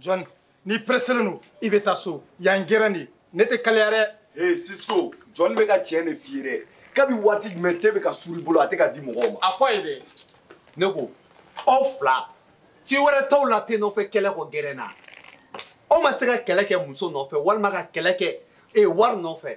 John, n'i presselen don i bɛ taa so yan gɛrɛn de ne tɛ kalaya dɛ. Ee Cisco, John bɛ ka tiɲɛ de f'i ye dɛ. Kabi waati jumɛn te bɛ ka suuru i bolo a tɛ ka di mɔgɔw ma. A fɔ a ye dɛ. Ne ko aw fila ci wɛrɛ t'aw la te nɔfɛ kɛlɛ kɔ gɛrɛn na. Aw ma se ka kɛlɛ kɛ muso nɔfɛ walima ka kɛlɛ kɛ ee wari nɔfɛ.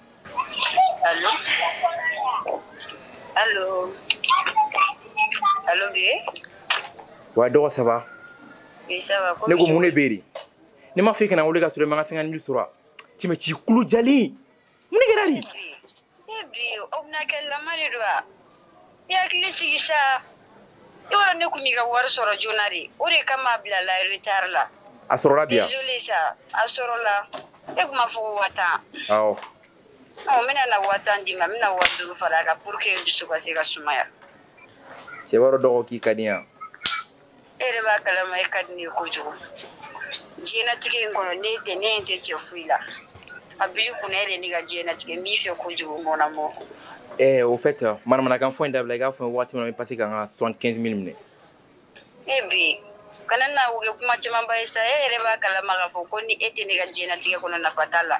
Allô Allô Allô, Gué Ouais, dɔgɔ, ça va Oui, ça va. Ne ko mun de bɛ yen ne m'a fɔ i kana n wele ka sɔrɔ i ma n ka 50 mille sɔrɔ cɛ mɛ k'i kulo jalen mun de kɛra de. Bi aw bɛna kɛ lama de don wa. i hakili sigi sa i b'a dɔn ne tun m'i ka wari sɔrɔ joona de o de kama a bilala retard la a sɔrɔla bi wa désolé sa a sɔrɔla e tun b'a fɔ ko waa tan awɔ ɔ n bɛna na waa tan d'i ma n bɛna waa duuru fara a kan pour que dusu ka se ka sumaya cɛ i b'a dɔn dɔgɔ k'i ka di n ye e yɛrɛ b'a kalama e ka di ne ye kojugu diɲɛnatigɛ in kɔnɔ ne tɛ ne ɲɛ tɛ cɛ foyi la a b'i kunna e de ne ka diɲɛnatigɛ n b'i fɛ kojugu mon amour Eh, au fait, euh, manamanakan fɔ in dabila i k'a fɔ waati min na n bɛ pase ka n ka 75 mille minɛ e bi kana na o kɛ kuma camanba ye sa e yɛrɛ b'a kalama k'a fɔ ko ni e tɛ ne ka diɲɛnatigɛ kɔnɔ nafa t'a la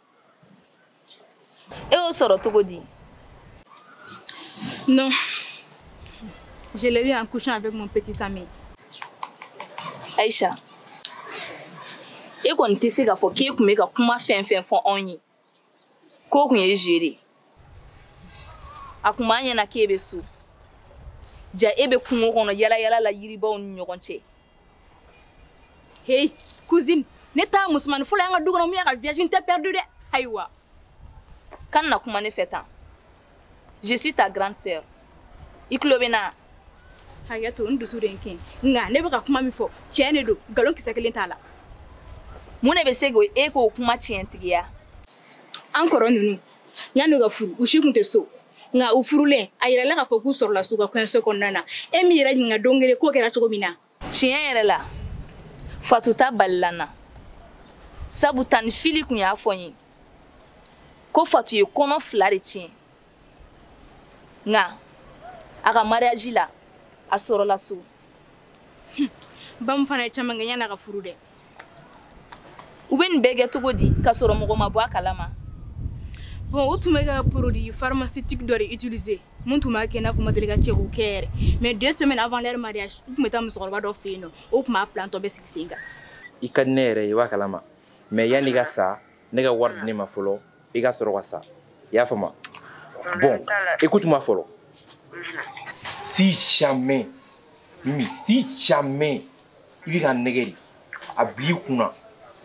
e y'o sɔrɔ cogo di non je l'ai eu en couchant avec mon petit ami aïcha e kɔni tɛ se k'a fɔ k'e tun bɛ ka kuma fɛn fɛn fɔ anw ye k'o tun ye jeu de ye a tun b'an ɲɛna k'e bɛ so jaa e bɛ kungo kɔnɔ yalayala la yiribaw ni ɲɔgɔn cɛ hei cousine ne t'a musomanin fɔlɔ y'an ka du kɔnɔ min y'a ka virginité perdu dɛ ayiwa kana na kuma ne fɛ tan je suis ta grande sœur i tulo bɛ n na hakɛ to n dusu de n kɛ nka ne bɛ ka kuma min fɔ tiɲɛ de don nkalon kisɛ kelen t'a la mun de bɛ se k'e k'o kuma tiɲɛtigiya an kɔrɔ ninnu yanni u ka furu u si tun tɛ so nka u furulen a yirala k'a fɔ k'u sɔrɔla so u ka kɔɲɔso kɔnɔna na e m'i yɛrɛ ɲininka don kelen k'o kɛra cogo min na tiɲɛ yɛrɛ la fatu ta balila n na sabu tanti fili tun y'a fɔ n ye ko fatu ye kɔnɔ fila de tiɲɛ nka a ka mariyaji la a sɔrɔla so bamu fana ye caman kɛ yanni a ka furu dɛ u bɛ nin bɛɛ kɛ cogo di ka sɔrɔ mɔgɔ ma bɔ a kalama bon u tun bɛ ka produit pharmaceutique dɔ de utiliser min tun b'a kɛ i n'a fɔ u ma deli ka cɛko kɛ yɛrɛ mais deux semaines avant leur mariage u tun bɛ taa musokɔrɔba dɔ fɛ yen nɔ o tun b'a plan tɔ bɛɛ sigi sen kan i ka di ne yɛrɛ ye i b'a kalama mais yanni i ka sa ne ka wari di ne ma fɔlɔ i ka sɔrɔ ka sa i y'a faamu bon écoute moi fɔlɔ si jamais mimi si jamais i bɛ ka nɛgɛ de a bil'i kun na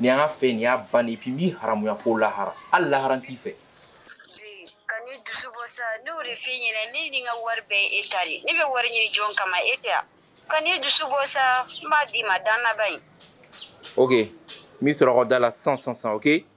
nin y'an ka fɛ nin y'a bannen puis n b'i haramuya fo lahara hali lahara n t'i fɛ kana ne dusu bɔ sa ne y'o de f'i ɲɛna ne ni n ka wari bɛɛ ye e ta de ne bɛ wari ɲini jɔn kama e tɛ a kana ne dusu bɔ sa n b'a d'i ma dannaba in ok n b'i sɔrɔ aw ka da la sisan sisan sisan ok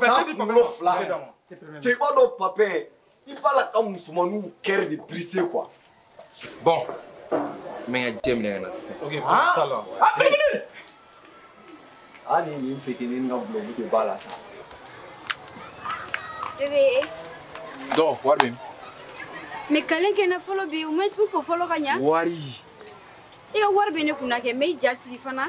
san kunkolo fila cɛ i b'a dɔn papɛ i b'a la ka musomaninw kɛrɛ de dirise kuwa bɔn n bɛ n ka jɛ minɛ ka na sisan hali nin petinin ka bulɔgu de b'a la sa dɔn wari bɛ min mɛ kalen kɛ na fɔlɔ bi u ma su fɔ fɔlɔ ka ɲa wari i ka wari bɛ ne kunna kɛ n bɛ i ja sigi fana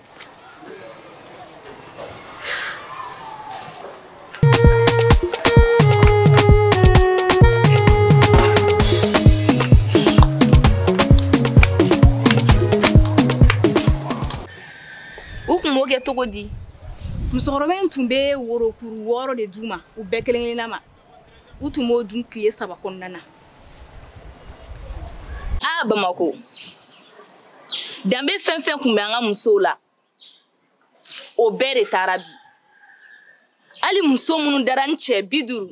u kun b'o kɛ cogo di musokɔrɔba in tun bɛ worokuru wɔɔrɔ de d'u ma u bɛɛ kelen kelenna ma u tun b'o dun tile saba kɔnɔna na a bamako danbe fɛn fɛn tun bɛ an ka musow la o bɛɛ de taara bi hali muso minnu dara ni cɛ bi duuru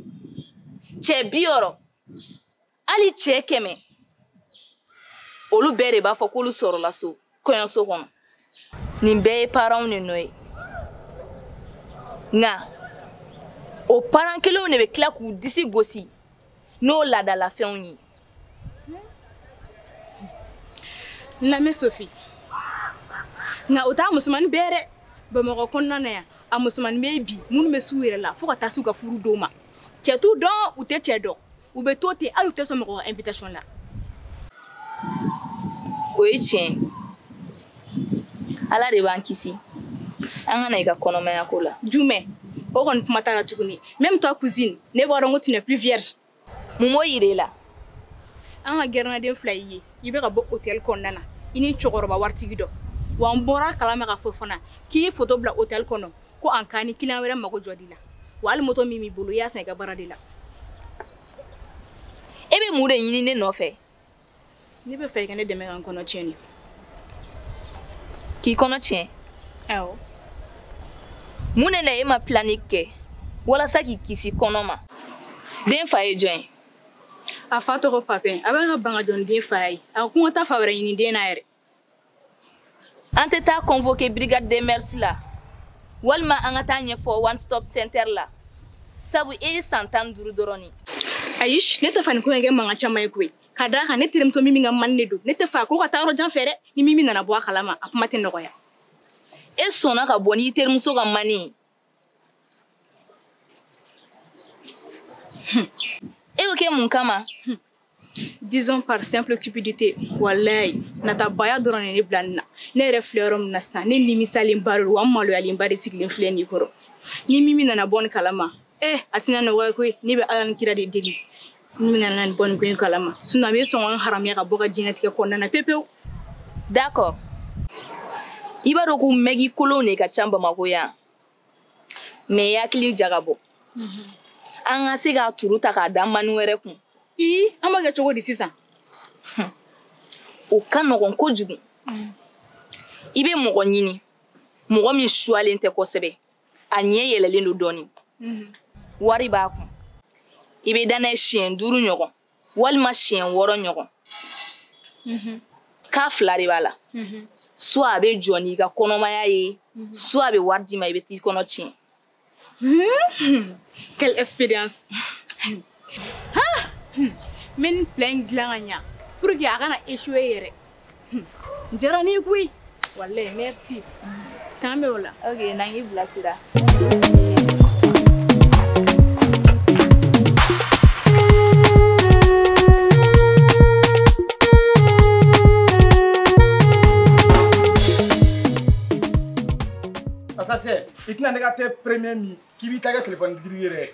cɛ bi wɔɔrɔ hali cɛ kɛmɛ olu bɛɛ de b'a fɔ k'olu sɔrɔla so kɔɲɔso kɔnɔ nin bɛɛ ye paranw de nɔ ye nka o paran kelenw de bɛ tila k'u disi gosi n'o laadalafɛnw ye n lamɛn sofi nka o t'a musomannin bɛɛ dɛ bamakɔ kɔnɔna na yan a musomannin bɛ yen bi minnu bɛ s'u yɛrɛ la fo ka taa s'u ka furu don ma cɛ t'u dɔn u tɛ cɛ dɔn u bɛ to ten aw tɛ sɔn mɔgɔ ka invitation la o ye tiɲɛ ala de b'an kisi an ka na i ka kɔnɔmaya ko la jumɛn o kɔni kuma t'a la tuguni même toi cousine ne b'a dɔn ko tu n'es plus vierge mun b'o yira i la an ka gɛrɛnaden fila y'i ye i bɛ ka bɔ hôtel kɔnɔna na i ni cɛkɔrɔba waritigi dɔ wa n bɔr'a kalama k'a fɔ fana k'i ye foto bila hôtel kɔnɔ ko an ka ni kiliyan wɛrɛ mago jɔr'i la wa hali moto min b'i bolo i y'a san i ka baara de la e bɛ mun de ɲini ne nɔfɛ ne b'a fɛ i ka ne dɛmɛ ka n kɔnɔ tiɲɛ de k'i kɔnɔ tiɲɛ awɔ mun de la e ma pilani kɛ walasa k'i kisi kɔnɔ ma den fa ye jɔn ye a fa tɔgɔ papɛ a bɛ ka ban ka jɔ n den fa ye a ko n ka taa fa wɛrɛ ɲini den na yɛrɛ an tɛ taa convoqué brigade des mœurs la walima an ka taa ɲɛfɔ one stop center la sabu e ye san tan duuru dɔrɔn ni ayi ne t'a fɛ nin ko in kɛ mankan caman ye koyi ka d'a kan ne terimuso mimi ka mani de don ne t'a fɛ ko ka taa yɔrɔ jan fɛ dɛ ni mimi nana bɔ a kalama a kuma tɛ nɔgɔya e sɔnna ka bɔ n'i terimuso ka mani ye Hmm. e y'o kɛ mun kama hmm. disons par simple cupidité walayi natabaya dɔrɔn de ne bila nin na ne yɛrɛ filɛ yɔrɔ min na sisan ne nimisalenba de don wa n maloyalenba de sigilen filɛ nin i kɔrɔ ni mimi nana bɔ nin kalama eh a tɛna nɔgɔya koyi ne bɛ ala ni kira de deli n'a nana bɔ nin ko in kalama sisan a bɛ sɔn ka n haramuya ka bɔ a ka diɲɛnatigɛ kɔnɔna na pepewu d'accord i b'a dɔn ko mɛgi kolon de ka ca bamako yan mais i hakili jagabɔ mhm. an ka se k'a turu ta k'a da mani wɛrɛ kun i an b'a kɛ cogo di sisan o ka nɔgɔn kojugu mhm. i bɛ mɔgɔ ɲini mɔgɔ min suwalen tɛ kosɛbɛ a ɲɛ yɛlɛlen don dɔɔni mhm. wari b'a kun i bɛ da n'a ye siɲɛ duuru ɲɔgɔn walima siɲɛ wɔɔrɔ ɲɔgɔn mhm. k'a fila de b'a la mhm. soit a bɛ jɔ n'i ka kɔnɔmaya ye soit a bɛ wari d'i ma i bɛ t'i kɔnɔ tiɲɛ hmm? quelle expérience n bɛ nin plan in dilan ka ɲa pour que a kana échoué yɛrɛ n jara n'i koyi walayi merci k'an bɛn o la ok na n k'i bilasira Asase, i tɛna ne ka tɛ premier min k'i b'i ta kɛ telefɔni digirigi yɛrɛ ye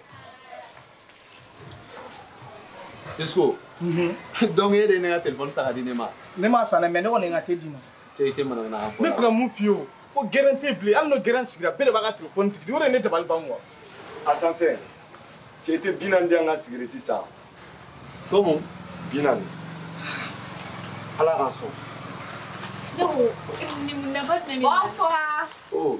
Cisco mhm. donc e de ye ne ka telefɔni san ka di ne ma ne m'a san dɛ mais ne kɔni ye n ka te d'i ma te i tɛ manamana kan fɔ ne bɛ ka mun f'i ye o ko gɛrɛn tɛ bilen hali n'o gɛrɛn sigira bɛɛ de b'a ka telefɔni digirigi o de ye ne dabali ban quoi asansɛn cɛ i tɛ bi naani di an ka sigarɛti san komu bi naani ala k'a sɔn Bonsoir. Oh.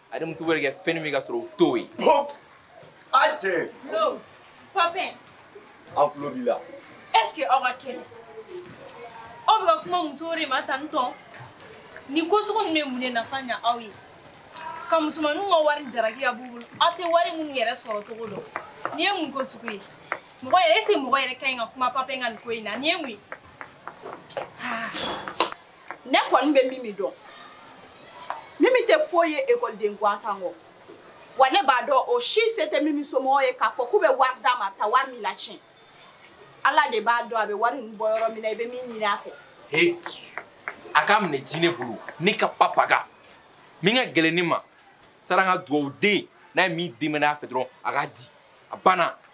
a ni muso bɛ kɛ fɛn min ka sɔrɔ u t'o ye. pɔp a cɛ. no papin. an tulo b'i la. est ce que aw ka kɛnɛ aw bɛ ka kuma musow de ma tan tɔn nin ko sugu ninnu bɛ mun de nafa ɲa aw ye ka musomaninw ka wari daraki ka b'u bolo aw tɛ wari minnu yɛrɛ sɔrɔ cogo dɔn nin ye mun ko sugu ye mɔgɔ yɛrɛ est ce que mɔgɔ yɛrɛ ka ɲi ka kuma papin ka nin ko in na nin ye mun ye. ne kɔni bɛ mimi dɔn mimi tɛ foyi ye ekɔliden gansan kɔ wa ne b'a dɔn o si se tɛ mimi somɔgɔ ye k'a fɔ k'u bɛ wari d'a ma ta wari min latiɲɛ ala de b'a dɔn a bɛ wari ninnu bɔ yɔrɔ min na i bɛ min ɲini a fɛ he a k'a minɛ jinɛ bolo ne ka papaga min ka gɛlɛn ne ma saran ka dugawuden n'a ye min demander a fɛ dɔrɔn a k'a di a banna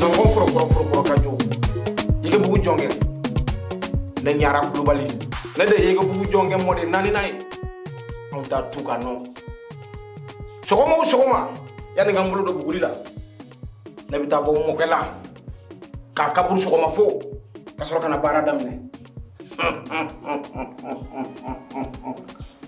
nɔgɔn kɔrɔkɔrɔkɔrɔ ka jɔ yegebugu jɔnkɛ ne ɲara kulubali ne de yegebugu jɔnkɛ mɔden naaninan ye anw ta tu ka nɔ sɔgɔma o sɔgɔma yanni n ka n bolo don buguri la ne bɛ taa bɔ n mɔkɛ la k'a kaburu sɔgɔma fo ka sɔrɔ ka na baara daminɛ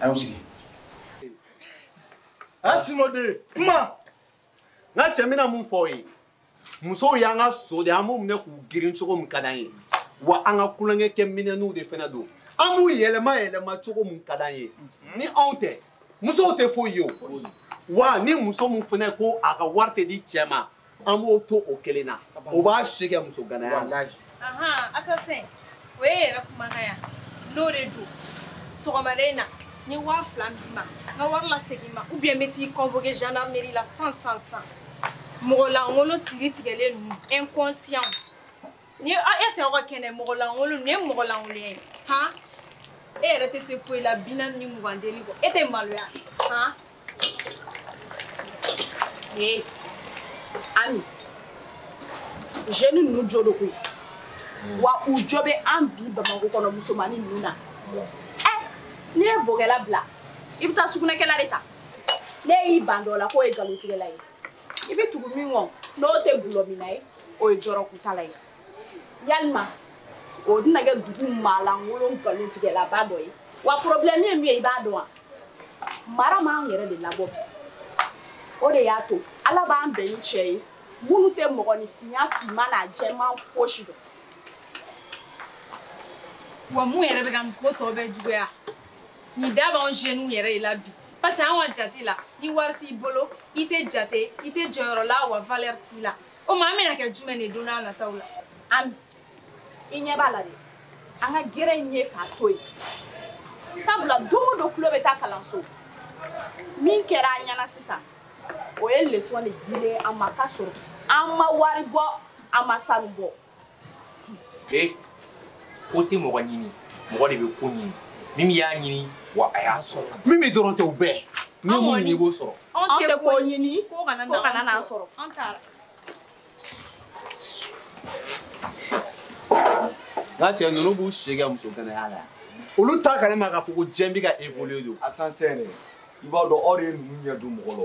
aw sigi a sinoden kuma n ka cɛ bɛna mun fɔ aw ye musow y'an ka so de an b'u minɛ k'u girin cogo min ka d'an ye wa an ka tulonkɛ kɛ minɛnw de fana don an b'u yɛlɛma yɛlɛma cogo min ka d'an ye ni anw tɛ musow tɛ foyi ye o wa ni muso min fana ko a ka wari tɛ di cɛ ma an b'o to o kelen na o b'a si kɛ muso ganaya la assassin o ye yɛrɛ kumakan ye wa n'o de don sɔgɔmada in na n ye waa fila d'i ma n ka wari lasegin n ma ou bien n bɛ t'i convoquer gendarmerie la san san san mɔgɔ lankolon siritigɛlen ninnu inconscient ni e sɛ ka kɛnɛ mɔgɔlankolon nin ye mɔgɔlankolon ye han e yɛrɛ tɛ se foyi la binaani ni mugan deli kɔ e tɛ maloya han ee ami jeune ninnu jo don koyi wa u jo bɛ an bi bamakɔ kɔnɔ musomannin ninnu na ɛ n'i ye bokɛla bila i bɛ taa sugunɛkɛla de ta n'e y'i ban dɔ la k'o ye nkalontigɛla ye i bɛ tugu min kɔ n'o tɛ dɔlɔminna ye o ye dɔrɔgutala ye yalima o tɛna kɛ dugu maalankolon nkalontigɛlaba dɔ ye wa porobilɛmu ye min ye i b'a dɔn wa mara m'an yɛrɛ de labɔ o de y'a to ala b'an bɛn ni cɛ ye minnu tɛ mɔgɔninfinya finman n'a jɛman fosi dɔn wa mun yɛrɛ bɛ ka nin ko tɔ bɛɛ juguya nin da b'anw jeunes yɛrɛ de la bi parce que anw ka jate la ni wari t'i bolo i tɛ jate i tɛ jɔyɔrɔ la wa valeur t'i la o ma an bɛna kɛ jumɛn de don nataw la ami i ɲɛ b'a la de an ka gɛrɛ in ye k'a to yen sabula don o don tulo bɛ taa kalanso min kɛra an ɲɛna sisan o ye leçon de dilen an ma k'a sɔrɔ an ma wari bɔ an ma sanu bɔ e ko tɛ mɔgɔ ɲini mɔgɔ de bɛ ko ɲini min y'a ɲini wa a y'a sɔrɔ min bɛ dɔrɔn tɛ o bɛɛ ni mun ɲini i b'o sɔrɔ anw tɛ ko ɲini ko kana n'an sɔrɔ an taara n ka cɛ ninnu b'u si kɛ muso kɛnɛya la yan olu t'a kalama k'a fɔ ko diɲɛ bɛ ka évoluer dans un sens i b'a dɔn aw de ye ninnu ɲɛ don mɔgɔ la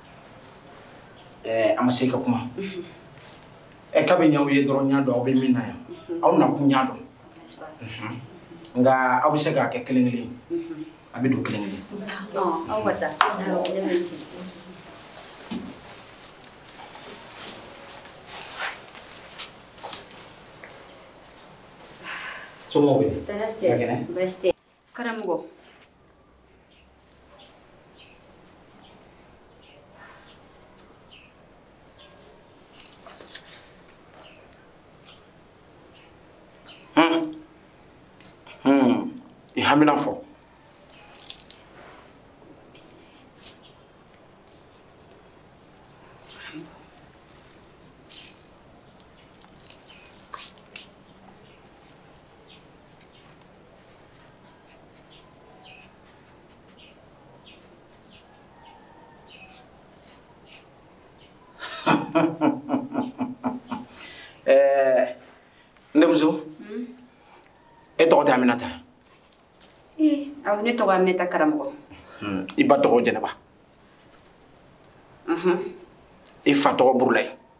ɛɛ an ma se ka kuma ɛ kabi n y'aw ye dɔrɔn n y'a dɔn aw bɛ min na yan aw nakun n y'a dɔn nka aw bɛ se k'a kɛ kelen kelen a bɛ don kelen kelen. aw ka taa somɔgɔw bɛ di. tɔɔrɔ si baasi tɛ. karamɔgɔ i hamina fɔ Eh, n denmuso hmm? e tɔgɔ tɛ aminata awɔ ne tɔgɔ aminata karamɔgɔ hmm, i ba tɔgɔ jɛnɛba i fa tɔgɔ burulayi